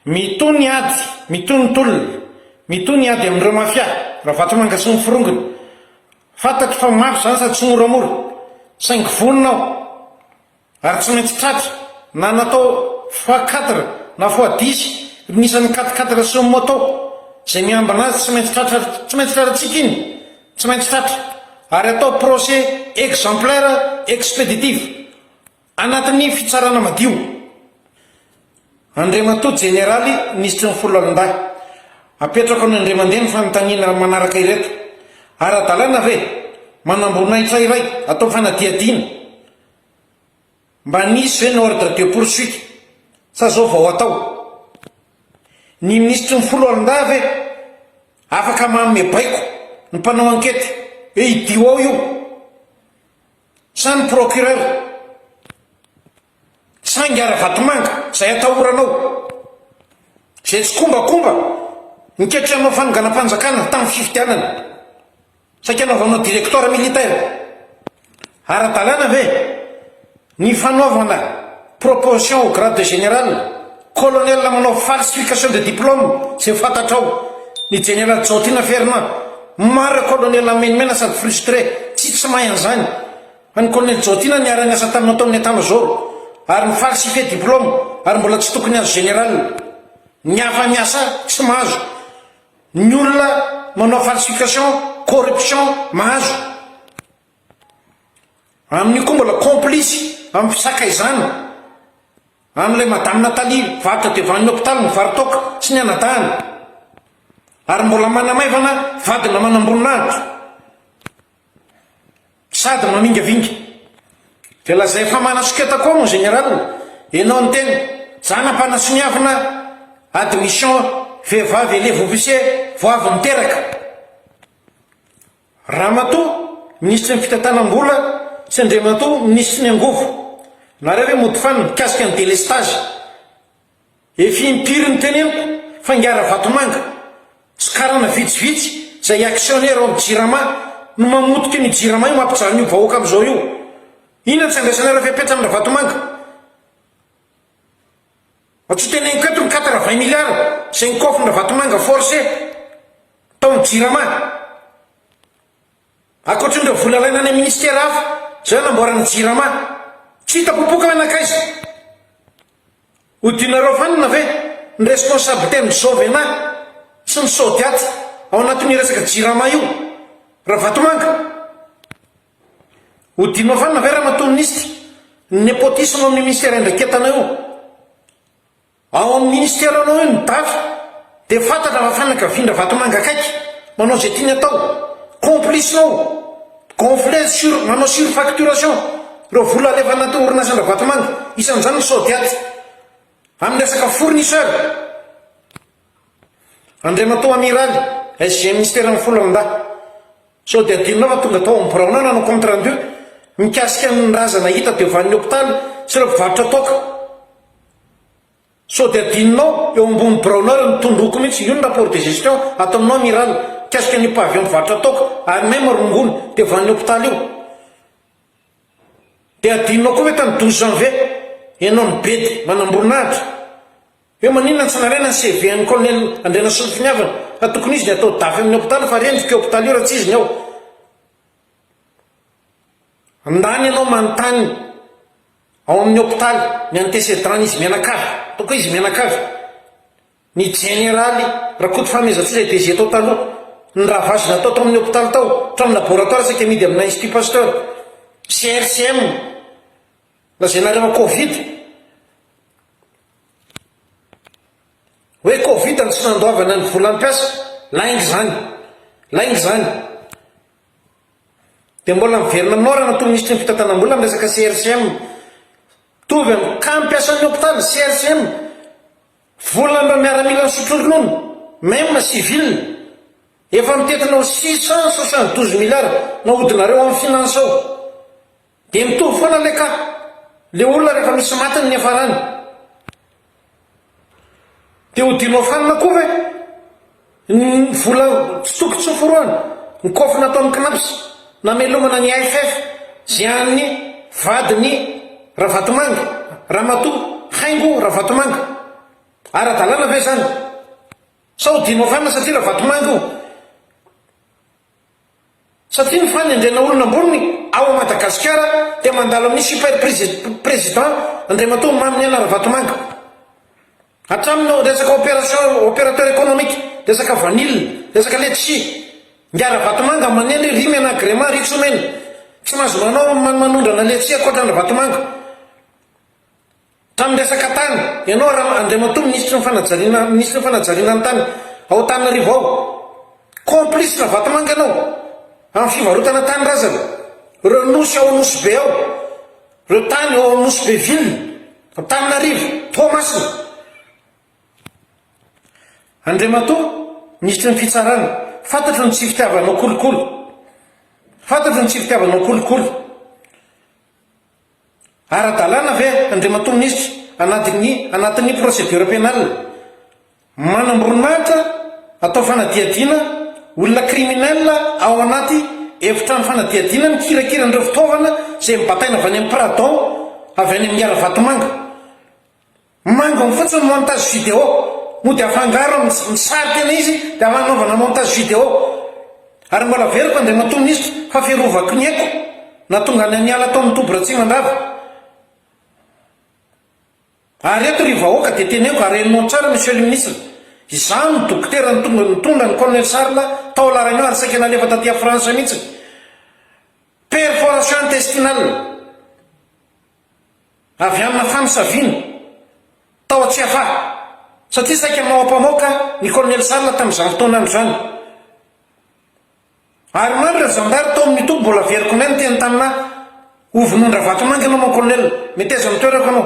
Mitohy ny ady, mitohy ny tolona, mitohy ny ady amin'ireo mafia, Ravatomanga sy ny forongony. Fantatro fa mafy izany sady tsy moramora, saingy vonona aho. Ary tsy maintsy tratra, na natao fois quatre na fois dix ry ny isan'ny quatre quatre sy ny moto, izay miambina azy tsy maintsy tratra ary tsy maintsy tratratsika iny, tsy maintsy tratra, ary atao procès exemplaire expéditif anatin'ny fitsarana madio. Andriamatoa Jeneraly Minisitry ny Foloalindahy, apetrako any Andriamandeha ny fanontaniana manaraka ireto, Ara-dalàna ve manam-boninahitra iray atao fanadihadiana, Mba nisy ve ny ordre de poursuite sa zao vao atao? Ny minisitry ny foloalindahy ve afaka manome baiko ny mpanao ankety hoe idio ao io? Sa ny procureur? Sa ingahy Ravatomanga zay atahoranao? Zay tsikombakomba niketry hanao fanonganam-panjakana tamin'ny fifidianana? Saika anaovanao directoire militaire ara-dalàna ve ny fanaovana proposition au grade de général, colonel manao falsification de diplôme izay fantatrao, ny jeneraly Jaotina Fernand, marina colonel menomenana sady frustré, tsy tsy mahay an'izany, fa ny colonel Jaotina niara-niasa taminao tao amin'ny état major ary mi-falsifier diplôme ary mbola tsy tokony azo général, ny hafa miasa tsy mahazo, Ny olona manao falsification, corruption mahazo. Amin'io koa mbola complice amin'ny fisakaizana an'ilay Madame Nathalie varotra devan'ny hôpital ny varitoaka sy ny anadahiny ary mbola manamaivana vadina manamboninahitra. Sady mamingavinga. Dia lazay fa manasoketa koa mon général enao ny tena. Zana mpanasoniavina admission vehivavy elève officier vao avy niteraka. Ramatoa minisitry ny fitantanam-bola sy Andriamatoa minisitry ny angovo. Nareo ve mody fanina mikasika ny délestage. Efa impiry no teneniko fa ingahy Ravatomanga sy karana vitsivitsy izay actionnaire ao amin'ny Jirama no mamotika an'io Jirama io mampijaly an'io vahoaka amin'izao io. Inona no tsy andraisanareo fepetra amin'i Ravatomanga? Mba tsy ho teneniko eto ny quatre vingt milliards izay nokaofin'i Ravatomanga forcé tao amin'ny Jirama. Ankoatrin'ireo vola alaina any amin'ny ministera hafa izay hanamboarana ny Jirama. Tsy hita popoka hoe nankaiza? Hodinareo vanona ve ny responsabilité ny Jovena sy ny Sodiat ao anatin io resaka Jirama io? Ravatomanga? Hodinao vanona ve Ramatoa Minisitra ny nepotisme ao amin'ny Ministera Iandraiketana io? Ao amin'ny Ministeranao io ny Daty? Dia fantatra fa fanakavian-dRavatomanga akaiky, manao izay tiany atao, complice-nao, gonfler sur, manao surfacturation, ireo vola alefa anaty orinasan-dRavatomanga, isan'izany ny Sodiat, amin'ny resaka fournisseur, Andriamatoa Amiraly, SG Minisitera Mifolandahy, sao dia adinonao fa tonga tao amin'ny biraonao nanao compte rendu mikasika ny razana hita teo vanin'ny hopitaly sy ireo mpivarotra toaka. Sao dia adinonao, eo ambony biraonao eo ny tondroko mihitsy, io ny rapport de gestion ataonao amiral, mikasika an'io pavillon mpivarotra toaka any même rongony devan'ny hopitaly io. Dia adinonao koa ve tany douze janvier, ianao nibedy manamboninahitra, hoe maninona tsy nalaina ny CV an'i colonel Andrianasolompiniavana, fa tokony izy dia atao dafy amin'ny hopitaly fa rendrika io hopitaly io raha tsy izy ny ao. Andany ianao manontany. Ao amin'ny hopitaly, ny antesedran' izy mianakavy, ataoko hoe izy mianakavy, ny jeneraly Rakoto Fahamezantsoa izay DG tao taloha, ny ravage natao tao amin'ny hopitaly tao, hatramin'ny laboratoire saika amidy amina Institut Pasteur, CRCM, lazaina ary fa Covid, hoe Covid no tsy nandoavana ny volam-piasa, lainga izany, lainga izany, Dia mbola miverina aminao raha natoa minisitry ny fitantanam-bola ny resaka CRCM. Mitovy amin'ny cas mpiasan'ny hopitaly, CRCM, volan'ireo miaramila nisotro ronono, même civil. Efa mitentina ho six cent soixante douze milliards nahodinareo amin'ny finance ao. Dia mitovy foana le ka. Le olona rehefa misy maty ny niafarany dia ho dinoafanina koa ve? Ny vola tsy tokony tsy ho forohana, ny kôfy nataon'ny cnaps namelomana ny AFF zay an'ny vadin'i Ravatomanga, Ramatoa Haingo Ravatomanga. Ara-dalàna ve zany? Sa ho dinoafanina satria Ravatomanga io? Satria ny fanendrena olona ambony ao Madagasikara dia mandalo amin'ny super president Andriamatoa Maminiaina Ravatomanga. Hatramin'ny resaka opération, opérateur économique, resaka vanille, resaka letchis. Ingahy Ravatomanga manendry ry Mena Agrema, ry Tsomena. Tsy mahazo manao manondrana letchis ankoatran'i Ravatomanga. Tamin'ny resaka tany, ianao Rama Andriamatoa Minisitry ny Fanajariana Minisitry ny Fanajariana ny Tany ao Antananarivo ao, complice Ravatomanga ianao amin'ny fivarotana tany razana, ireo nosy ao Nosy-Be ao, ireo tany ao amin'ny Nosy Be ville, Antananarivo, Toamasina. Andriamatoa Minisitry ny Fitsarana, fantatro ny tsy fitiavanao kolikoly, fantatro ny tsy fitiavanao kolikoly. Ara-dalàna ve, Andriamatoa Minisitra, anadin'ny anatin'ny procédure pénale, manamboninahitra atao fanadihadiana olona criminel ao anaty efitrano fanadihadiana mikirakira an'ireo fitaovana izay mibataina avy any amin'ny Pradon avy any amin'ny Haravatomanga? Mangony fotsiny montage vidéo mody afangaro amin'ny sary tena izy dia hanaovana montage vidéo ary mbola averiko Andriamatoa Minisitra fa fiarovako ny aiko nahatonga anay niala tao amin'ny toby Ratsimandrava ary eto ry vahoaka dia teneniko ary henonao tsara Monsieur le Ministre izaho no dokotera nitonga nitondra ny Colonel Charles tao La Réunion ary saika nalefa taty à France mihitsy perforation intestinale Avy amina fanosaviana tao Tsiafahy, satria saika maoapamoaka ny kolonely Sala tamin'izany fotoana izany. Ary maro ireo zandary tao amin'ny toby mbola very koa neny teny tamina Ho vonoin-dRavatomanga ianao mon colonel, meteza ny toerako ianao.